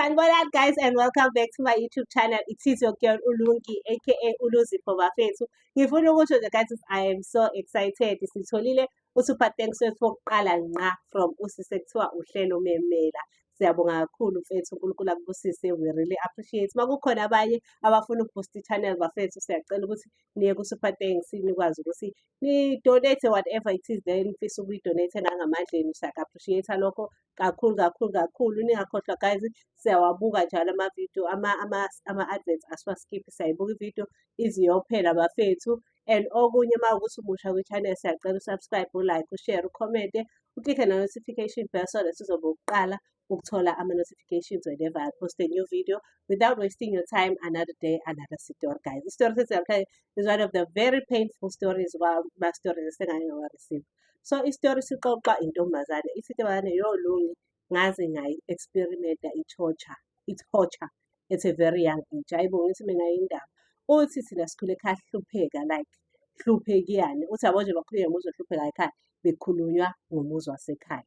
Sanibona guys and welcome back to my YouTube channel. It is your girl Ulungi aka Uluzipho Bafethu. Ngifuna ukusho nje guys I am so excited. Sitholile uSuper Thanks wethu wokuqala nqa from usise kuthiwa uhlelo memela. Siyabonga kakhulu mfethu uNkulunkulu akubusise we really appreciate. Makukhona abanye abafuna ukuboost channel bafethu siyacela ukuthi niye ku Super Thanks nikwazi ukuthi ni donate whatever it is then mfisa ukuyi donate ngangamandleni siya appreciate lokho kakhulu kakhulu kakhulu ningakhohlwa guys siyawabuka njalo amavidiyo ama-adverts asiwaskiphi siyayibuka ividiyo iziyophela bafethu and okunye uma ukuthi umusha kwi-channel siyacela usubscribe ulike ushare ukhomente uklikhe na-notification bell so that sizobe ukuqala ukuthola ama-notifications whenever I post a new video without wasting your time another day another story guys isitori sesiyabuhlale is one of the very painful stories ma-stories esengake ngawareceive so isitori sixoxa intombazane ithi intombazane yo lungi ngaze ngayi-experimenta i-torture i-torture at a very young age ayibo ngithi mina indaba uthi thina sikhule ekhaya sihlupheka like hluphekiyane uthi yabo nje bakhuluye ngomuzi ohlupheka ekhaya bekhulunywa ngomuzi wasekhaya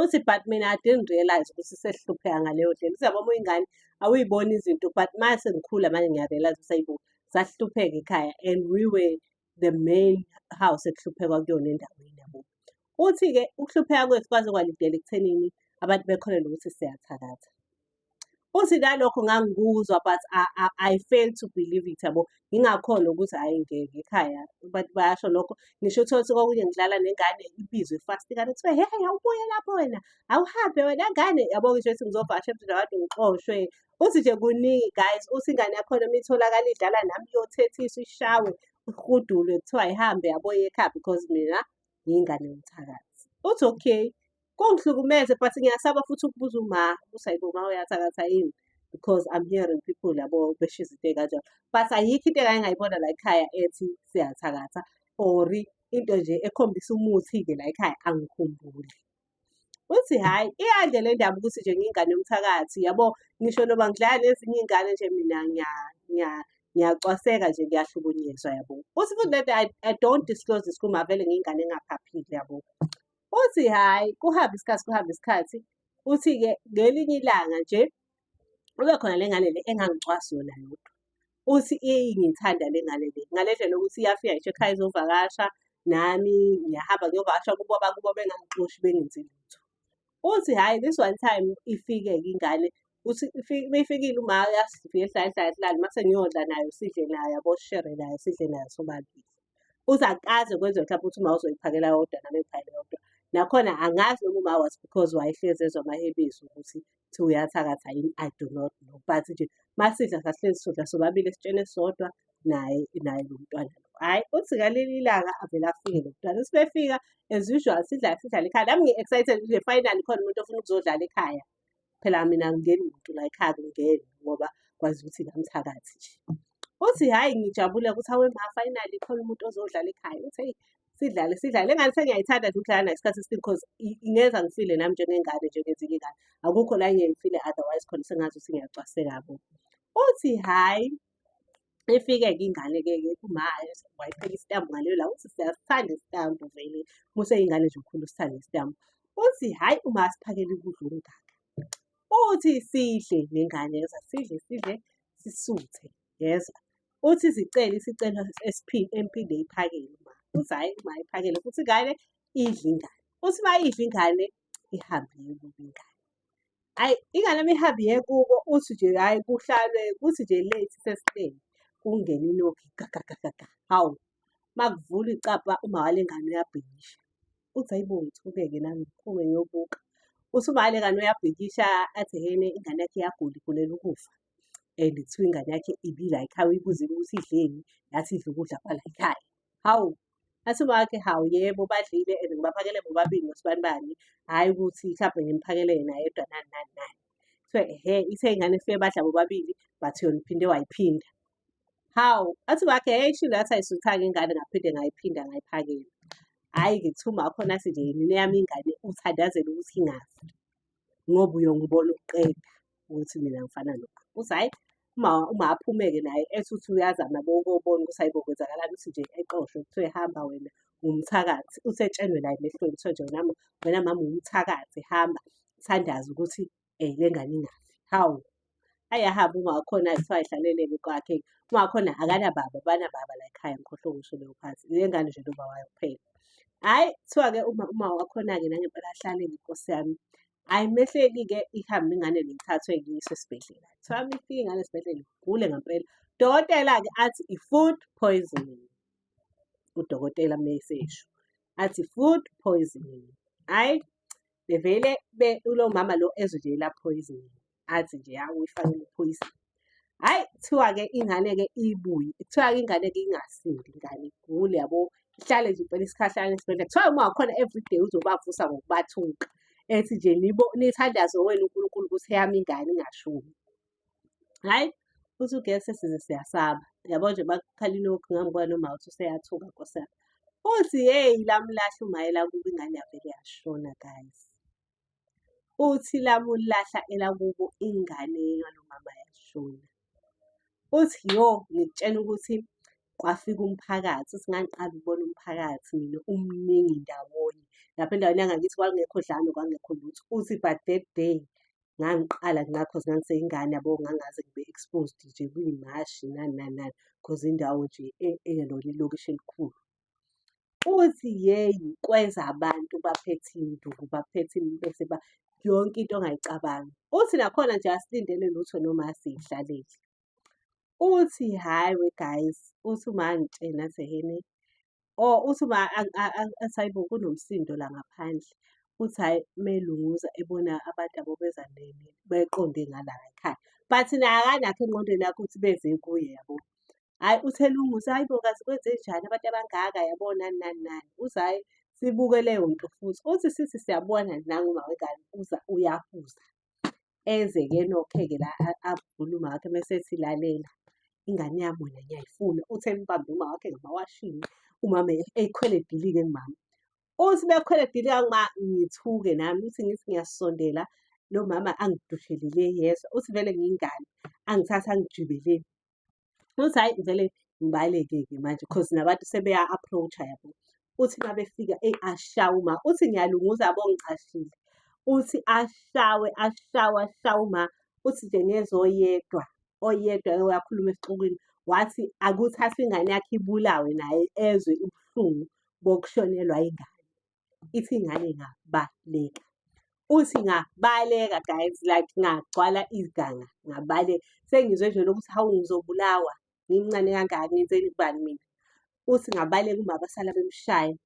uthi but mina i didn't realize ukuthi sesihlupheka ngaleyo ndlela uthi yabo uma uyingane awuyiboni izinto but mase ngikhula manje ngiyarealize ukuthi ayibo sasihlupheka ekhaya and we were the main house ekuhluphekwa kuyona endaweni yabo. Uthi-ke ukuhlupheka kwethu kwaze kwalidela ekuthenini abantu bekholelwe ukuthi siyathakatha. Uthi nalokho ngangikuzwa but I, I, I fail to believe it yabo ngingakhona ukuthi hhayi ngeke ekhaya abantu bayasho lokho ngisho uthole ukuthi kokunye ngidlala nengane ibizwe ifasti ingane kuthiwe hehe awubuye lapho wena awuhambe wena ngane yabo ngisho ukuthi ngizovakasha emzini wabantu ngixoshwe uthi nje kuningi guys uthi ingane yakhona uma itholakala idlala nami iyothethiswa ishawe ihudulwe kuthiwa ihambe yaboye ekhaya because mina ngiyingane yomthakathi uthi okay kungihlukumeze but ngiyasaba futhi ukubuza uma ukuthi ayibo ma uyathakatha yini because I'm hearing people labo besho izinto ey'kanjalo but ayikho into engake ngayibona la ekhaya ethi siyathakatha or into nje ekhombisa umuthi-ke la ekhaya angikhumbuli uthi hhayi iyadle le ndaba ukuthi nje ngiyingane yomthakathi yabo ngisho noba ngidlala nezinye iy'ngane nje mina ngiyacwaseka nje ngiyahlukunyezwa yabo uthi futhi lento i don't disclose this kuma vele ngiyingane engaphaphile yabo uthi hhayi kuhambe isikhathi kuhambe isikhathi uthi-ke ngelinye ilanga nje kube khona le ngane le engangicwasi yona yodwa uthi ingithanda le ngane le ngale ndlela ukuthi iyafika ngisho ekhaya izovakasha nami ngiyahamba ngiyovakasha kubo abakubo bengangixoshi bengenzi lutho uthi hhayi this one time ifike-ke ingane uthi beyifikile uma yasifika ehlala ehlala ehlala uma sengiyodla nayo sidle nayo yaboshere nayo sidle nayo sobabili uthi akaze kwenze mhlawumbe ukuthi uma uzoyiphakela yodwa nami ngiphakele yodwa nakhona angazi noma uma was because wayehlezi ezwa amahebiso ukuthi ukuthi uyathakatha yini i do not know but nje masidla sahlezi sodla sobabili esitsheni sodwa naye naye lo mntwana lo hhayi uthi ngaleli ilanga avele afike lo mntwana uthi befika as usual sidla sidlala ekhaya nami ngi-excited nje finally khona umuntu ofuna ukuzodlala ekhaya phela mina ngingeni muntu la ekhaya ngingeni ngoba kwazi ukuthi ngamthakathi nje uthi hhayi ngijabule ukuthi awe ma finally khona umuntu ozodlala ekhaya uthi eyi sidlale sidlale engane sengiyayithanda nje ukudlala nayo isikhathi esiningi because ingenza ngifile nami njengengane njengezinye ingane akukho la ngiyayifile otherwise khona sengazi ukuthi ngiyacwaseka bo uthi hhayi ifike-ke ingane-ke kumaye wayipheka isitambu ngaleyo la uthi siyasithanda isitambu vele museyingane nje ukhulu usithanda isitambu uthi hhayi uma asiphakele ukudla okungaka uthi sidle nengane yoza sidle sidle sisuthe yezwa uthi zicele isicelo empinde iphakele uma uthi hhayi uma iphakele futhi ingane idla ingane uthi uma idla ingane ihambe yekubo ingane ayi ingane uma ihambe yekubo uthi nje hhayi kuhlalwe kuthi nje late sesiteni kungena inogi gagagagaga hawu uma kuvula icapha uma wale ngane uyabhikisha uthi hayibo ngithukeke nami ngiphume ngiyobuka uthi uma wale ngane uyabhikisha athi hene ingane yakhe iyagula igulela ukufa and kuthiwa ingane yakhe ibila ekhaya uyibuzile ukuthi idleni yathi idla ukudla kwala ekhaya hawu athi wakhe hawu yebo badlile and ngibaphakele bobabili nosibani bani hhayi ukuthi mhlawumbe ngimphakele yena yedwa nani nani nani kuthiwa ehe ithe ingane ifike badla bobabili but yona iphinde wayiphinda hawu athi wakhe hheyi shilo yathi ayisuthanga ingane ngaphinde ngayiphinda ngayiphakela hhayi-ke kuthiwa umakhona athi nje mina eyami ingane uthandazela ukuthi ingazi ngoba uyongibona ukuqeda ukuthi mina ngifana nokho uthi hhayi uma uma aphumeke naye ethi uthi uyazama bokobona ukuthi hayibo kwenzakalani uthi nje exoshwe kuthiwe hamba wena ngumthakathi usetshenwe la emehlweni kuthiwa nje wena wena mama umthakathi hamba thandaza ukuthi um le ngane ingafi hawu ayahambe ungakhona kuthiwa ihlaleleke kwakhe ungakhona akanababa banababa la ekhaya ngikhohlwe ukusho leyo phansi le ngane nje loba wayo kuphela hhayi kuthiwa-ke uma uma wakhona-ke nangempela ahlale ngenkosi yami hhayi mehleli-ke ihambe ingane lengithathwe ngiyiswe esibhedlela kuthiwa mifike ingane esibhedlela igule ngempela dokotela-ke athi i-food poisoning udokotela mesesho athi food poisoning hhayi bevele be ulo mama lo ezwe nje la poison athi nje ya uyifanele poison hayi kuthiwa ke ingane ke ibuye kuthiwa ke ingane ke ingasindi ingane igule yabo ihlale nje impela isikhahlana esibhedlela kuthiwa uma wakhona everyday uzobavusa ngokubathuka ethi nje nibo nithandaze wena uNkulunkulu ukuthi yami ingane ingashumi hhayi futhi ugesi size siyasaba yabo nje bakukhala ilokhu ngami kwani uma uthi useyathuka nkosana uthi yeyi lamulahla umayela kubo ingane yavele yashona guys uthi lamulahla elakubo ingane yalomama yashona uthi yo ngikutshela ukuthi kwafika umphakathi uthi ngangiqala ukubona umphakathi mina umningi ndawonye lapha endaweni yangakithi kwakungekho dlalo kwangekho lutho uthi but that day ngangiqala nca cause ngangiseyingane yabo ngangaze ngibe exposed nje kwimashi nani nani nani cause indawo nje e-, eyalona ilokishi elikhulu. Uthi yeyi kwenza abantu baphethe iy'nduku baphethe bese yonke into ongayicabangi. Uthi nakhona nje asilindele lutho noma asiyihlaleli. uthi hhayi we guys uthi uma angitshena sehene or uthi uma asayibo kunomsindo la ngaphandle uthi hhayi melunguza ebona abantu abo beza beqonde ngala ekhaya but naye akanakho engqondweni yakho ukuthi beze kuye yabo hhayi uthi elunguza hhayi bo kazi kwenze njani abantu abangaka yabo nani nani nani uthi hhayi sibuke leyo nto futhi uthi sithi siyabona nangu mawengane uza uyahuza eze ke nokheke la avule umakhe mese silalela ingane yami wena ngiyayifuna uthe mbambe umakhe ngamawashini umama eyikhwele dilike kumama uthi bekhwele dilika kuma ngithuke nami uthi ngithi ngiyasondela lo mama angidushelile yezwa uthi vele ngingane angithatha angijibeleni uthi hayi vele ngibaleke-ke manje cause nabantu sebeya-approach-a yabo uthi uma befika eyi ashawe uma uthi ngiyalunguza yabo ngicashile uthi ashawe ashawe ashawe uma uthi nje ngezwa oyedwa oyedwa oyakhuluma esixukwini wathi akuthathwe ingane yakhe ibulawe naye ezwe ubuhlungu bokushonelwa ingane ithi ingane ingabaleka uthi ngabaleka guys like ngagcwala iganga ngabaleka sengizwe nje lokuthi hawu ngizobulawa ngimncane kangaka ngenzeni kubani mina uthi ngabaleka uma basala bemshaya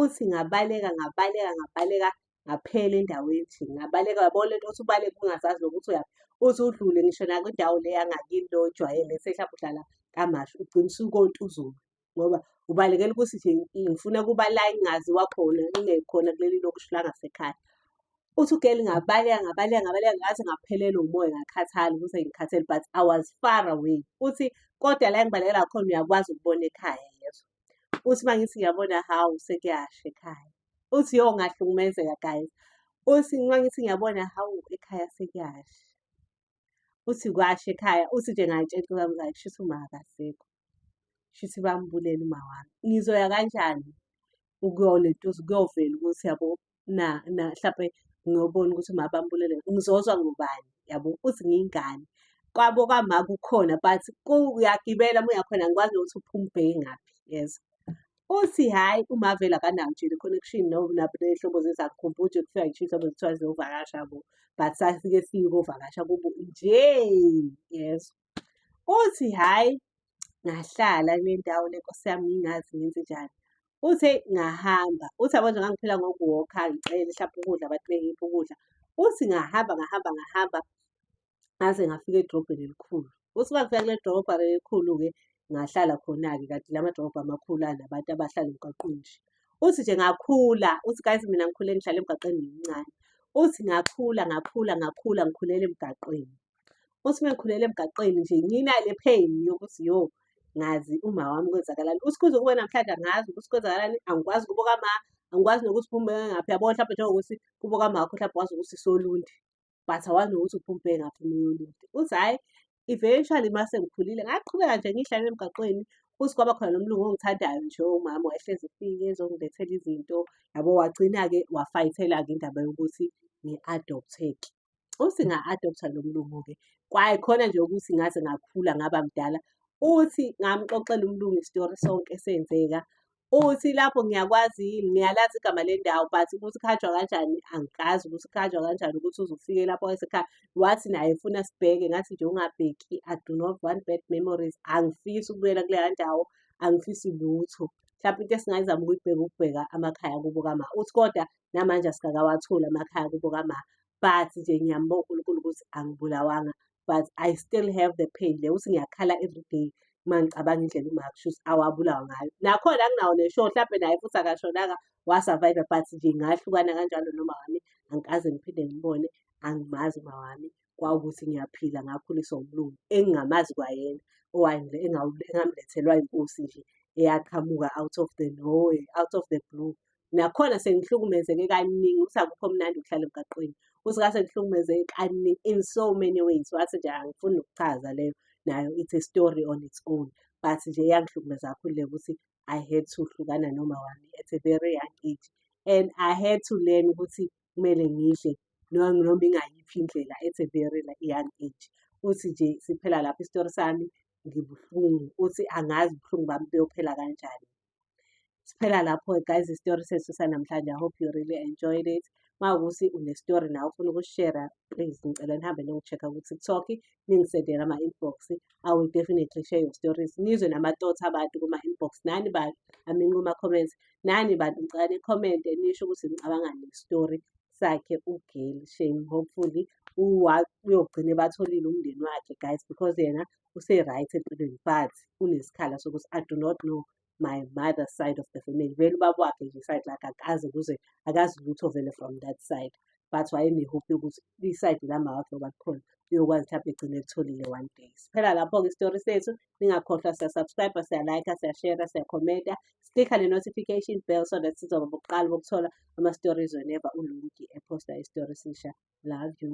uthi ngabaleka ngabaleka ngabaleka ngaphela endaweni nje ngabaleka yabona lento othi ubaleka ungazazi nokuthi uyaphi uthi udlule ngisho nakwindawo le yangakini lo ojwayele sehla uhlala kamashi ugcina usukonta uzulu ngoba ubalekela ukuthi nje ngifuna kuba la ingaziwa khona ingekhona kuleli lokusho la ngasekhaya uthi ugeli ngabaleka ngabaleka ngabaleka ngathi ngaphelelwa umoya ngakhathala ukuthi ngikhathele but i was far away uthi kodwa la engibalekela khona uyakwazi ukubona ekhaya yezo uthi uma ngithi ngiyabona hawu sekuyasha ekhaya uthi yo ngahlukumezeka guys uthi uma ngithi ngiyabona hawu ekhaya sekuyasha uthi kwasho ekhaya uthi nje ngayitshela intokazi yomzali shuthi uma akasekho shuthi bambulele uma wami ngizoya kanjani ukuyolentuza kuyovela ukuthi yabo na na mhlampe ngiyobona ukuthi uma bambulele ngizozwa ngubani yabo uthi ngiyingane kwabo kwama kukhona but uyagibela uma uyakhona ngikwazi nokuthi uphuma ubheke ngaphi yes uthi hhayi uMarvel akanayo nje le-connection nehlobo zezakhumbula ukuthi kufika ngisho iy'hlobo zithiwa ziyovakasha bo but sasike siyukovakasha kubo nje yezwa uthi hhayi ngahlala kule ndawo le nkosi yami ngingazi ngenze njani uthe ngahamba uthi yabo nje ngangiphila ngokuwokha ngicele hlampe ukudla abantu bengiphi ukudla uthi ngahamba ngahamba ngahamba ngaze ngafika edrobheni elikhulu uthi uma kufika kule drobha elikhulu-ke ngahlala khona-ke kanti la madrobha amakhulu anabantu abahlala emgaqweni nje uthi nje ngakhula uthi guys mina ngikhule ngihlala emgaqweni ngimncane uthi ngakhula ngakhula ngakhula ngikhulele emgaqweni uthi uma ngikhulele emgaqweni nje nginale pain yokuthi yo ngazi uma wami kwenzakalani uthi kuze kube namhlanje angazi ukuthi kwenzakalani angikwazi kubuka ma angikwazi nokuthi phumeke ngaphi yabo mhlawumbe njengokuthi kubuka makho mhlawumbe wazi ukuthi solundi but awazi nokuthi uphumpe ngaphi umoya olude uthi hhayi eventually uma sengikhulile ngaqhubeka nje ngihlale emgaqweni futhi kwaba khona nomlungu ongithandayo nje umama wayehlezi efike ezongilethela izinto yabo wagcina-ke wafayithela-ke indaba yokuthi ngi-adopteke uthi nga-adoptha lo mlungu-ke kwaye khona nje ukuthi ngaze ngakhula ngaba mdala uthi ngamxoxela umlungu isitori sonke esenzeka uthi lapho ngiyakwazi yini ngiyalazi igama lendawo but ukuthi khanjwa kanjani angikazi ukuthi khanjwa kanjani ukuthi uzofike lapho esekhaya wathi naye funa sibheke ngathi nje ungabheki i do not want bad memories angifisi ukubuyela kuleya ndawo angifisi lutho mhlawumbe into esingayizama ukuyibheka ukubheka amakhaya kubo kama uthi kodwa namanje asikakawatholi amakhaya kubo kama but nje ngiyambonga unkulunkulu ukuthi angibulawanga but i still have the pain le ukuthi ngiyakhala every day uma ngicabanga indlela umakushus awabulawa ngayo nakhona anginawo nesho mhlampe naye futhi akashonanga wasurvive but nje ngahlukana kanjalo noma wami angikaze ngiphinde ngibone angimazi uma wami kwawukuthi ngiyaphila ngakhuliswa umlungu engingamazi kwayena owayengile engamlethelwa inkosi nje eyaqhamuka out of the nowhere out of the blue nakhona sengihlukumezeke kaningi ukuthi akukho mnandi ukuhlala emgaqweni ukuthi ngase ngihlukumezeke kaningi in so many ways wathi nje angifuni ukuchaza leyo nayo it's a story on its own but nje yangihlukumeza kakhulu le ukuthi i had to hlukana noma wami at a very young age and i had to learn ukuthi kumele ngidle noma ingayiphi indlela at a very young age uthi nje siphela lapho isitori sami ngibuhlungu uthi angazi ubuhlungu bami buyophela kanjani siphela lapho guys isitori sethu sanamhlanje i hope you really enjoyed it uma ukuthi unestory nawe ufuna ukushera please ngicela nihambe nongi-check-a ku-tiktok ningisendela ama-inbox i will definitely share your stories nizwe nama-thoughts abantu kuma-inbox nani bantu i mean kuma-comments nani bantu ngicela ni-comment nisho ukuthi ngicabanga nestory sakhe ugeli shame hopefully uyogcina ebatholile umndeni wakhe guys because yena use-right empilweni but unesikhala sokuthi i do not know my mother's side of the family vele ubaba wakhe nje side lakhe akaze kuze akazi lutho vele from that side but wayenehope yokuthi isayidi lama wakhe oba khona uyokwazi ukuthi abegcine elitholile one day siphela lapho-ke isitori sethu ningakhohlwa siyasubscribe siyalike siyashera siyakhomenta siklikha ne-notification bell so that sizoba bokuqala bokuthola ama-stories whenever ulungi eposta isitori sisha love you